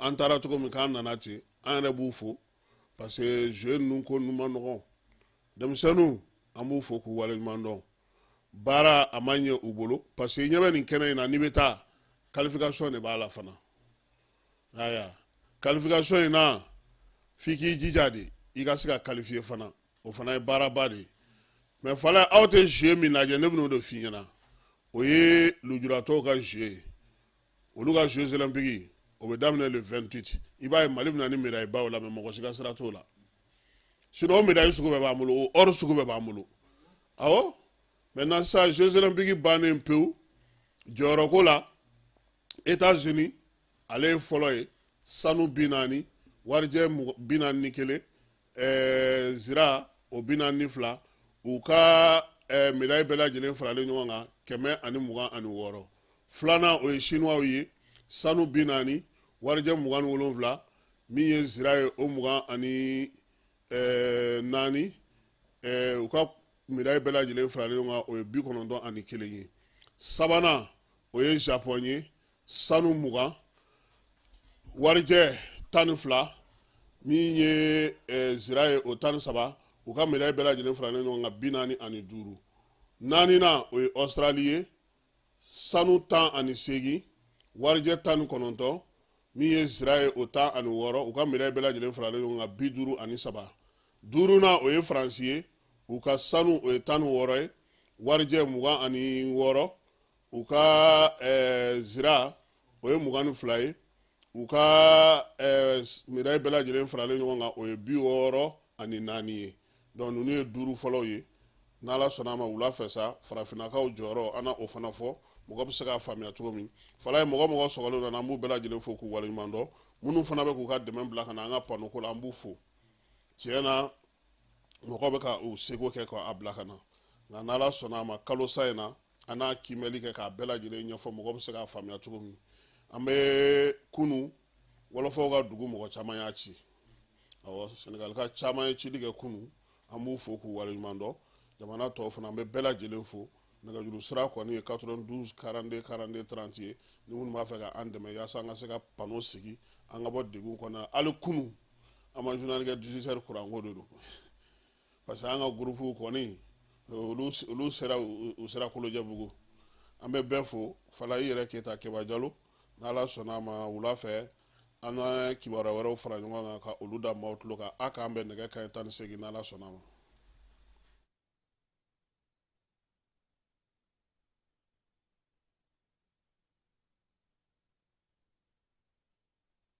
an taara cogo min k'an nana ten an yɛrɛ b'u fo parce que jeu ninnu ko ninnu man nɔgɔn denmisɛnninw an b'u fo k'u waleɲuman dɔn baara a ma ɲɛ u bolo parce que ɲɛ bɛ nin kɛnɛ in na n'i bɛ taa qualification de b'a la fana aya qualification in na f'i k'i jija de i ka se ka qualifier fana o fana ye baaraba de ye mais fala aw tɛ jeu min lajɛ ne bɛn'o de f'i ɲɛna o ye lujuratɔw ka jeu ye olu ka jeux olympique o bɛ daminɛ le 28 i b'a ye mali bɛna ni médaille baw la mais mɔgɔ si ka sira t'o la sinon o médaille sugu bɛɛ b'an bolo o or sugu bɛɛ b'an bolo awɔ maintenant sa jeux olympique bannen pewu jɔyɔrɔko la états unis ale ye fɔlɔ ye sanu bi naani warijɛ bi naani ni kelen ɛɛ zira o bi naani ni fila u ka ɛɛ medayi bɛɛ lajɛlen faralen ɲɔgɔn kan kɛmɛ ani mugan ani wɔɔrɔ filanan o ye sinuwaw ye sanu bi naani warijɛ mugan ni wolonwula min ye zira ye o mugan ani ɛɛ naani ɛɛ u ka medayi bɛɛ lajɛlen faralen ɲɔgɔn kan o ye bi kɔnɔntɔn ani kelen ye sabanan o ye japɔn ye sanu mugan warijɛ tan ni fila min ye eh, zira ye o tan ni saba u ka medayi bɛɛ lajɛlen faralen ɲɔgɔn kan bi naani ani duuru naaninan o ye ɔsirali ye sanu tan ani seegin warijɛ tan ni kɔnɔntɔn min ye zira ye o tan ani wɔɔrɔ u ka medayi bɛɛ lajɛlen faralen ɲɔgɔn kan bi duuru ani saba duurunan o ye faransi ye u ka sanu o ye tan ni wɔɔrɔ ye warijɛ mugan ani wɔɔrɔ u ka eh, zira o ye mugan ni fila ye u ka eh, medayi bɛɛ lajɛlen faralen ɲɔgɔn kan o ye bi wɔɔrɔ ani naani ye donc ninnu ye duuru fɔlɔw ye n'ala sɔnna a ma wula fɛ sa farafinnakaw jɔyɔrɔ an na o fana fɔ mɔgɔ bɛ se k'a faamuya cogo min falaye mɔgɔ mɔgɔ sɔgɔlen nana an b'u bɛɛ lajɛlen fo k'u waleɲuman dɔn minnu fana bɛ k'u ka dɛmɛ bila ka na an ka panoko la an b'u fo tiɲɛ na mɔgɔ bɛ ka u seko kɛ k'a bila ka na nka n'ala sɔnna a ma kalo sa in na an n'a kiimɛli kɛ k'a bɛɛ lajɛlen ɲɛfɔ mɔgɔ bɛ se k'a faamuya cogo min an bɛ kunu wɔlɔfɔw ka dugu mɔgɔ caman y'a ci awɔ sɛnɛgalika caman ye cili kɛ kunu an b'u fo k'u waleɲuman dɔn jamana tɔw fana an bɛ bɛɛ lajɛlen fo nɛgɛjuru sira kɔni ye 92 42 42 30 ye ni minnu b'a fɛ ka an dɛmɛ yaasa an ka se ka pano sigi an ka bɔ degun kɔnɔ hali kunu an ma journal kɛ 18 heures kuranko de don parce que an ka gurupuw kɔni olu sera u sera kolojɛbugu an bɛ bɛɛ fo fala i yɛrɛ keyita keba jalo n'ala sɔnna a ma wula fɛ an na kibaruya wɛrɛw fara ɲɔgɔn kan ka olu da maaw tulo kan a k'an bɛn nɛgɛ kanɲɛ tan ni segin n'ala sɔnna a ma